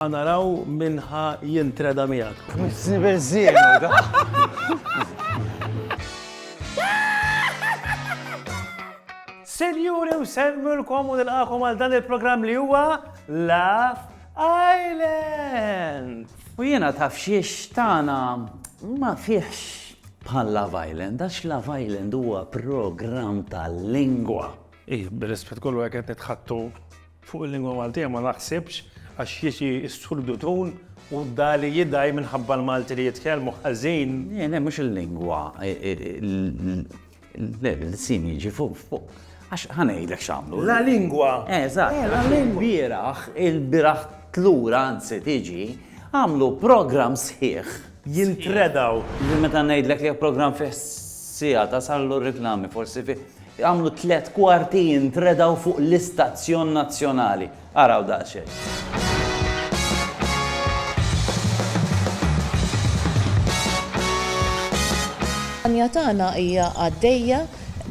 Ħa naraw min ħa jintreda miegħek. Tmissni beżżiegħ hu dan. Sinjuri u semmilkom u nilqakom għal dan il-programm li huwa Laugh Island. U jiena taf xiex tagħna ma fihx bħal Love Island, għax Love Island huwa programm tal-lingwa. Ih, bir-rispett kollu hekk qed nitħattu Fuq il-lingwa Maltija ma naħsibx għax jiġi s-Surdu Tun u dali jidgħi minħabba l-Malti li jitkellmu ħażin. Le, le, mhux il-lingwa, le, l-ilsien jiġi fuq, għax ħa ngħidlek x'għamlu. La lingwa! Eżatt, għax ilbieraħ, ilbieraħ tlur anzi tiġi, għamlu programm sħiħ. Jintredaw. Meta ngħidlek li programm fih siegħa tasal u r-riklami forsi fih Għamlu tliet kwarti jintredaw fuq l-istazzjon nazzjonali. Araw daqsxejn. L-kampanja tagħna hija għaddejja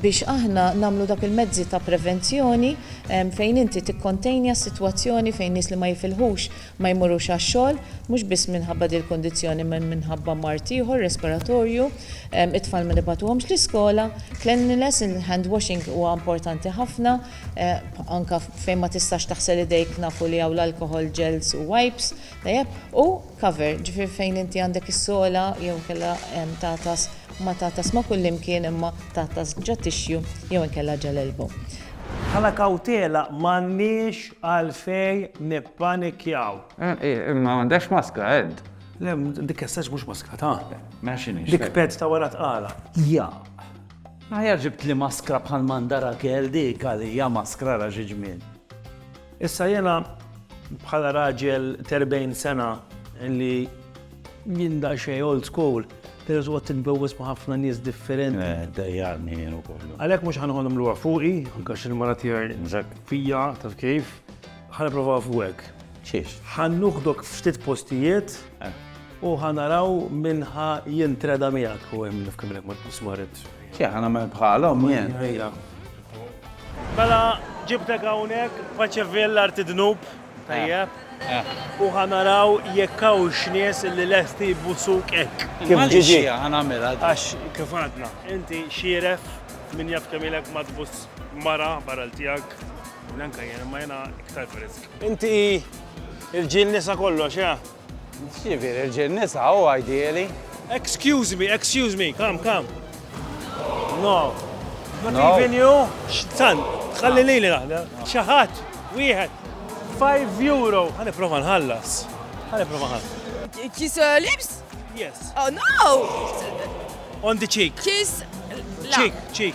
biex aħna nagħmlu dak il-mezzi ta' prevenzjoni fejn inti tikkontenja s-sitwazzjoni fejn nies li ma jifilħux ma jmorrux għax-xogħol, mhux biss minħabba dil-kundizzjoni imma minħabba mard ieħor respiratorju, it-tfal ma nibagħtuhomx l-iskola, cleanliness, il-hand washing huwa importanti ħafna, anke fejn ma tistax taħsel idejk nafu li hawn l-alcohol gels u wipes, tajjeb, u cover, ġifieri fejn inti għandek is-sogħla jew inkella tagħtas, ma tagħtas ma' kullimkien imma tagħtas ġat-tixju jew inkella ġa l-elbow. Bħala kawtela m'għandniex Għalfejn nippanikjaw? Eeh, ma għandekx maskra, Ed. Le, dik essax mhux maskra ta'. Mela x'inhi? Dik ped ta' wara tqala. Jaq. Aħjar ġibtli maskra bħal m'għandha Rakel dik għalija maskra ra xi ġmiel. Issa jiena bħala raġel t'erbgħin sena li. Jien daqsxejn old school, però tqgħod titbewwes ma' ħafna nies differenti. Eh, dejjarni jien ukoll. Għalhekk mhux ħa noħodhom lura fuqi, anke għax il-mara tiegħi fija, taf kif, ħa nipprova fuqek. Xiex? Ħa nuħdok ftit postijiet eh. u ħa naraw minn ħa jintreda miegħek u hemm nifkem lek ma tbismarit. Xi ħa nagħmel bħalhom jien. Mela ġibtek hawnhekk faċevil arti dnub. Tajjeb. U ħa naraw jekk hawnx nies li lesti jbusuk hekk. Kif ġiġi? Ħa nagħmilha. Għax kif għadna, inti xieref min jaf kemm ilek ma tbuss mara barra tiegħek. Neanke jien, imma jiena iktar frisk. Inti il-ġiel nisa kollox, eh? X'jiġifieri rġiel nisa hu ideali? Excuse me, excuse me, come, come. No. Not No. even you? X'tan, ħalli lili naħna. Xi ħadd, wieħed. 5 euro. Ħa nipprova nħallas. Ħa nipprova nħallas. Kiss uh, lips? Yes. Oh no! On the cheek. Kiss. la. Cheek, cheek.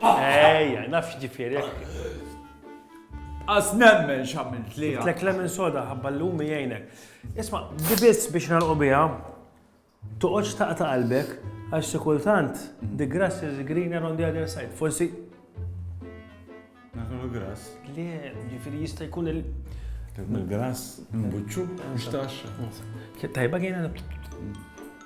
Ejja, naf x'ġifieri hekk. As nemmen x'għamilt li. Tlek lemon soda ħabba l-lum jgħinek. Isma, di biss biex nalqu biha, toqgħodx taqta' qalbek għax xi kultant the grass is greener on the other side. Forsi. Naħdu grass. Le, ġifieri jista' jkun il- Il-grass, mbuċċu, mhux taxxa. Tajba kien